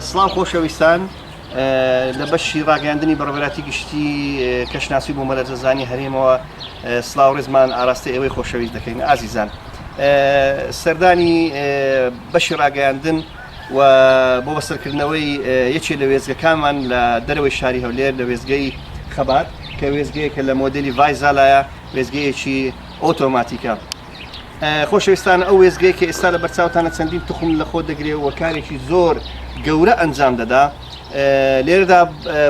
سڵاو خۆشەویستان لە بەشی ڕاگەاندنی بەڕێراتی گشتی کەشناسی بۆ مەلەرزەزانی هەرێمەوە سلااو ڕێزمان ئاراستی ئێوەی خۆشەویست دەکەین ئازیزان سەردانی بەشی ڕاگەاندن و بۆ بەسەرکردنەوەی یەکێ لە وێستگەکانمان لە دەرەوەی شاری هەولێر لە وێستگەی خەبات کە وێستگەیەکە لە مۆدلی ڤایزالایە وێستگەیەکی ئۆتۆماتیکە خۆشەویستان ئەو وێزگەی کە ئێستا لە بەرچاوتانە چەندین تخم لە خۆ دەگرێ و کارێکی زۆر گەورە ئەنجام دەدا لێرەدا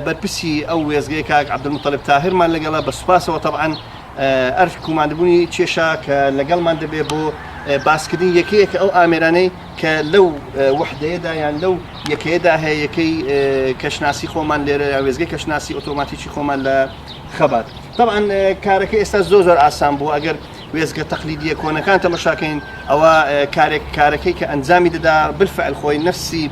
بەرپرسی ئەو وێزگەی کاک عبدمطلب تاهرمان لەگەڵە بە سوپاسەوە طبعاان ئەرک کوماندبوونی کێشا کە لەگەڵمان دەبێ بۆ باسکردنی یەکەیەکە ئەو ئامێرانەی کە لەو وەحدەیەدا یان لەو یەکەیەدا هەیە، یەکەی کەشناسی خۆمان لێرە یا وێستگەی کەشناسی ئۆتۆماتیکی خۆمان لە خەبات. تەبعەن کارەکە ئێستا زۆر زۆر ئاسان بووە، ئەگەر وێستگە تەقلیدییە کۆنەکان تەمەشا کەین، ئەوا کارێک کارەکەی کە ئەنجامی دەدا بالفعل خۆی نەفسی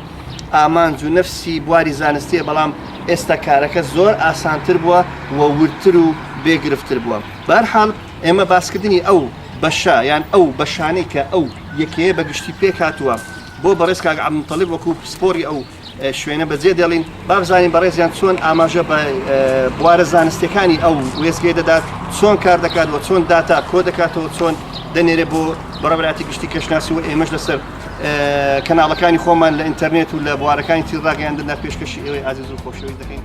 ئامانج و نەفسی بواری زانستییە، بەڵام ئێستا کارەکە زۆر ئاسانتر بووە و وردتر و بێ گرفتتر بووە. بە هەر حاڵ، ئێمە باسکردنی ئەو بەشە یان ئەو بەشانەی کە ئەو یەکەیە بە گشتی پێک هاتووە بۆ بەڕێز کاک عەبدول موتەڵیب وەکوو پسپۆڕی ئەو شوێنە بەجێ دێڵین با بزانین بەڕێزیان چۆن ئاماژە بە بوارە زانستیەکانی ئەو وێستگەی دەدات چۆن کار دەکات و چۆن داتا کۆ دەکاتەوە چۆن دەنێرێ بۆ بەڕێوەبەراتی گشتی کەشناسی و ئێمەش لەسەر کەناڵەکانی خۆمان لە ئینتەرنێت و لە بوارەکانی تری ڕاگەیاندندا پێشکەشی ئێوەی ئازیز و خۆشەویست دەکەین.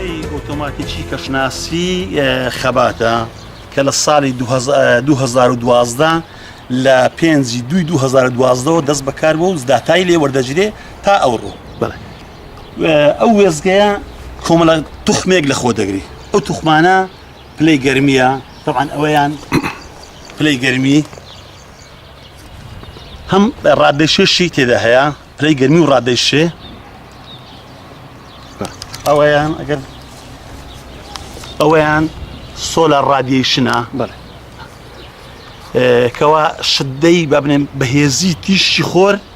دەستەی ئۆتۆماتیکی کەشناسی خەباتە کە لە ساڵی 2012 لە پێنجی دوی 2012ەوە دەست بەکار بۆ و داتای لێ وەردەگیرێ تا ئەوڕۆ ئەو وێزگەیە کۆمەڵە توخمێک لە خۆ دەگری ئەو توخمانە پلەی گەرمیە تەعاان ئەوەیان پلەی گەرمی هەم ڕادێشێشی تێدا هەیە پلەی گەرمی و ڕادێشێ ئەوەیان ئەگەر ئەوەیان سۆلا ڕادیشنە بەڵێ کەوا شدەی بابنێن بەهێزی تیشی خۆر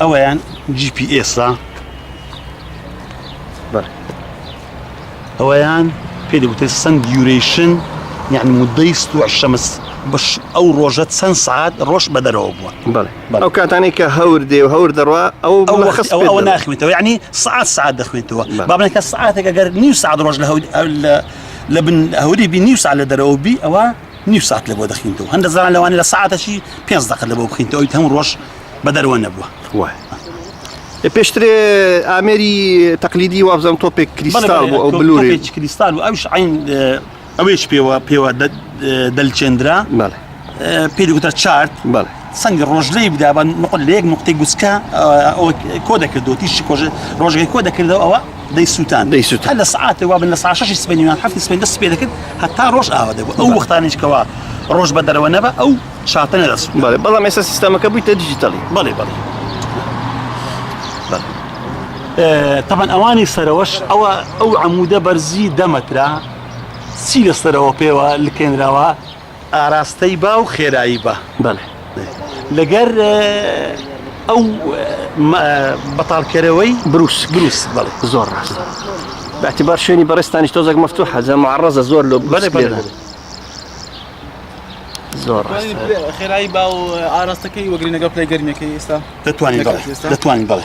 ئەویان GPS-ە ئەویان پێ دەگوتێ سند دیورەیشن یعنی مدەی ستوع شەمس بەش ئەو ڕۆژە چەند سعات ڕۆژ بە دەرەوە بووە ئەو کاتانی کە هەور دێ و هەور دەڕوا ئەو ئەوە ناخوێنێتەوە ینی سعات سعات دەخوێنێتەوە بابنەکە سعاتێک ئەگەر نیو سعات ڕۆژ لە هەول لە بن هەوری بی نیو سا لە دەرەوە بی ئەوە نیو سات لەبۆ دەخینتەوە هەندە زان لەوانی لە ساعتەشی پێ دەقل لەبۆ بخینتەوە ئەوی هەموو ڕۆژ بە دەروە نەبووە وە پێشترێ ئامێری تەقلیدی وابزانم تۆپێک کریستال بۆ ئەو بلوری کریستال و ئەوش عین ئەوێش پێوە پێوە دەلچێندرا پێ دەگوتە چارت بەڵێ سەنگی ڕۆژ لێی بدا بە نقل لە یەک نقطەی گوسکە کۆ دەکردەوە تیشی کۆژ ڕۆژگەی کۆ دەکردەوە ئەوە دەی سووتان دەی سووت لە سعات وابن لە ساشەشی سپێنیان هەفتی سپێن دەست پێ دەکرد هەتا ڕۆژ ئاوا دەبوو ئەو وەختانیشکەوە ڕۆژ بە دەرەوە نەبە ئەو شاتە نەدەست بەڵێ بەڵام ئێستا سیستەمەکە بوویتە دیجیتەڵی بەڵێ بەڵێ تەبەن ئەوانی سەرەوەش ئەوە ئەو عمودە بەرزی دەمەترا سی لەسەرەوە پێوە لکێنراوە ئاراستەی با و خێرایی با بەڵێ لەگەر ئەو بەتاڵکەرەوەی بروس بروس بەڵێ زۆر ڕاستە باعتبار شوێنی بەڕێستانیش تۆزەک مەفتو حەزە معڕزە زۆر لۆ بەلێ بەێ زۆر خێرایی با و ئاراستەکەی وەگرینەگە پلەی گەرمەکەی ئێستا دەتوانین دەتوانین بڵێ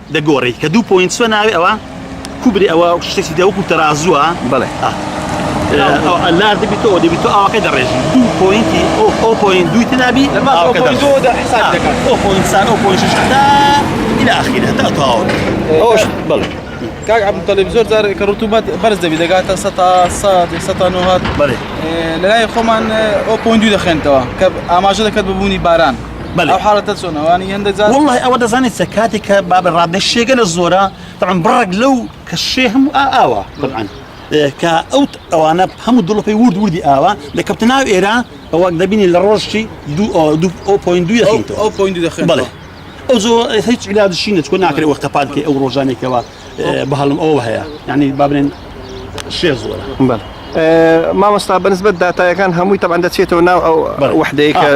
دەگۆری کە دوو پۆینت سوە ناوێ ئەوە کوبری ئەوە شتێکی دە وەکو تەرازووە بڵێ لاردبی تۆ دەبی تۆ ئاواکە دەڕێژی دوو پۆینتی ئەو ئەو پۆین دووی تنابی ئەوش بڵێ کاک عبد تەلب زۆر زار کە ڕوتومەت بەرز دەبی دەگاتە سە تا سە سە تا نهات بڵێ لەلای خۆمان ئەو پۆین دوو دەخێنتەوە کە ئاماژە دەکات ببوونی باران بەێ حالەتە چۆنەوانی هەندە جار وڵی ئەوە دەزانێت سە کاتێک کە بابە ڕادە شێگە لە زۆرە تەعم بڕێک لەو کە شێ هەموو ئاوە بڕان. کە ئەوت ئەوانە هەموو دڵپی ورد وردی ئاوا دەکەوتە ناو ئێرە ئەوەک دەبینی لە ڕۆژی دوخینەوە ئەو زۆ هیچ علاجشی نەچکۆ ناکرێت وەختە پانکەی ئەو ڕۆژانێکەوە بەهەڵم ئەوە هەیە یعنی بابرێن شێ زۆرە بەڵ مامۆستا بەنسبەت داتایەکان هەمووی تەبان دەچێتەوە ناو ئەو وحدەیەکە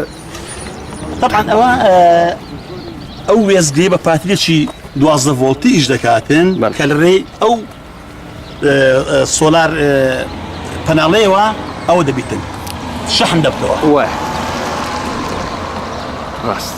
طبعا ئەوە ئەو وێزگەی بە پاترێکی دوازدە ڤۆڵتی ئیش دەکاتن کە لە ڕێی ئەو سۆلار پەناڵەیەوە ئەوە دەبیتن شەحن دەبتەوە ڕاست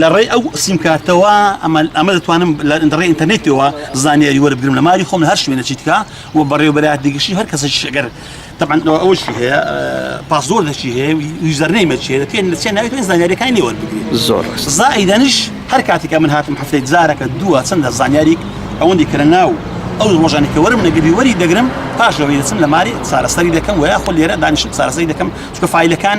لە ڕێی ئەو سیمکارتەوە ئەمە دەتوانم لەڕێ ئینتەرنێتەوە زانیاری وەربگرم لە ماری خۆم هەر شوێنە چیتکە و بەڕێوبەرات دیگەشی هەر کەسە شگەر تەبان ئەوشی هەیە پاسۆر دەچی هەیە یوزەرنەی مەچێ پێ نچێ ناوێت زانیاریەکانی لێ وەربگری زۆر زائیدەنش هەر کاتێکە من هاتم هەفتەی جارەکە دووە چەندە زانیاری ئەوەندی کە لە ناو ئەو ڕۆژانی کە وەرم نەگەبی وەری دەگرم پاشەوەی دەچم لە ماری چارەسەری دەکەم وە خۆ لێرە دانیشم چارەسەری دەکەم چکە فیلەکان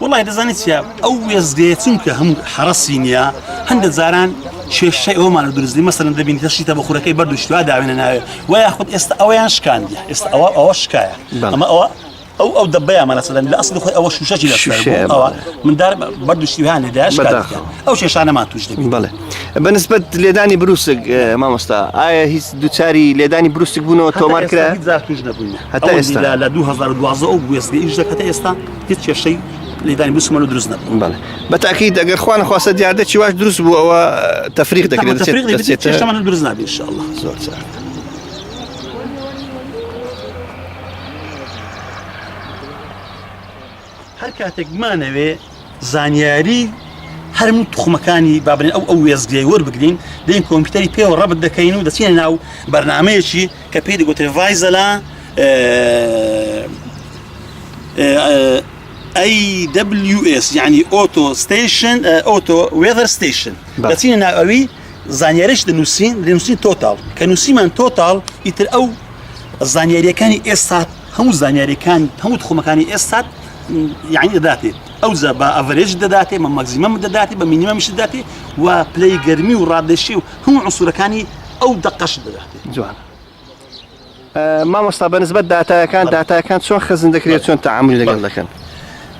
وڵی دەزانانی چیا ئەو وێزگەیە چونکە هەموو حرەسی نییە هەندە جاران کێشەی ئەومان و درزلی مەسەن دەبین کە شیتە بە خورەکەی بەردوشتوا داوێنە ناوێت و یاخود ئێستا ئەویان شکاندە ئێستا ئەوە ئەوە شکایە ئەمە ئەوە ئەو ئەو دەبیانمانە سەدەن لە ئەسلی خۆی ئەوە شوشەکی لەشەوە مندار بەردوشتیوان لێداش ئەو شێشانەمان توش دەبین بڵێ بەنسبت لێدانی بروسک مامۆستا ئایا هیچ دوچاری لێدانی بروسک بوونەوە تۆمار کرا هزار توش نەبووین هەتا ئێستا لە 2012 ئەو گوێستگە ئیش دەکەتە ئێستا هیچ کێشەی لێدانی بسمەوە دروست نەبوو بەڵێ بە تاکیید ئەگەر خوا نەخواستە دیاردەی واش دروست بوو ئەوە تەفریق دەکرێت چێشتەمان دروست نابێ ان شاء الله زۆر چاک هەر کاتێک بمانەوێ زانیاری هەرم تخمەکانی بابنین ئەو ئەو وێزگەی وەربگرین دەین کۆمپیوتەری پێوە ڕەبت دەکەین و دەچینە ناو بەرنمەیەکی کە پێی دەگوترێ ڤایزەلا AWS یعنی ئۆتۆ ستیشن ئۆتۆ وێڤەر ستیشن دەچینە ناو ئەوی زانیارش دەنووسین دەنووسین تۆتاڵ کە نووسیمان تۆتاڵ ئیتر ئەو زانیاریەکانی ئێستا هەموو زانیاریەکان هەموو خۆمەکانی ئێستا یعنی دەداتێت ئەو زە بە ئەڤرێج دەداتێ مە مەگزیمەم دەداتێ بە مینیمەمیش دەداتێ و پلەی گەرمی و ڕادێشی و هەموو عسوورەکانی ئەو دەقەش دەداتێت جوان. مامۆستا بەنسبەت داتایەکان داتایەکان چۆن خزن دەکرێت چۆن تعاملی لەگەڵ دەکەن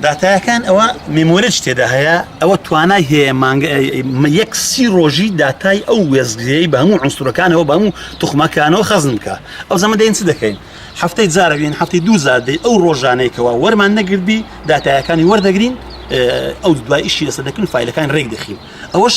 داتایەکان ئەوە میمۆرج تێدا هەیە ئەوە توانای هەیە مانگە یەک سی ڕۆژی داتای ئەو وێزگرەی بە هەموو عنسورەکانەوە بەمو توخمەکانەوە خەزن بکە ئەو زەمە دەین چ دەکەین هەفتەی جارەبین هەفتی دوو زادەی ئەو ڕۆژانێکەوە وەرمان نەگردبی داتایەکانی وەردەگرین ئەو دوایشی ئێستا دەکەن فیلەکان ڕێک دەخین ئەوەش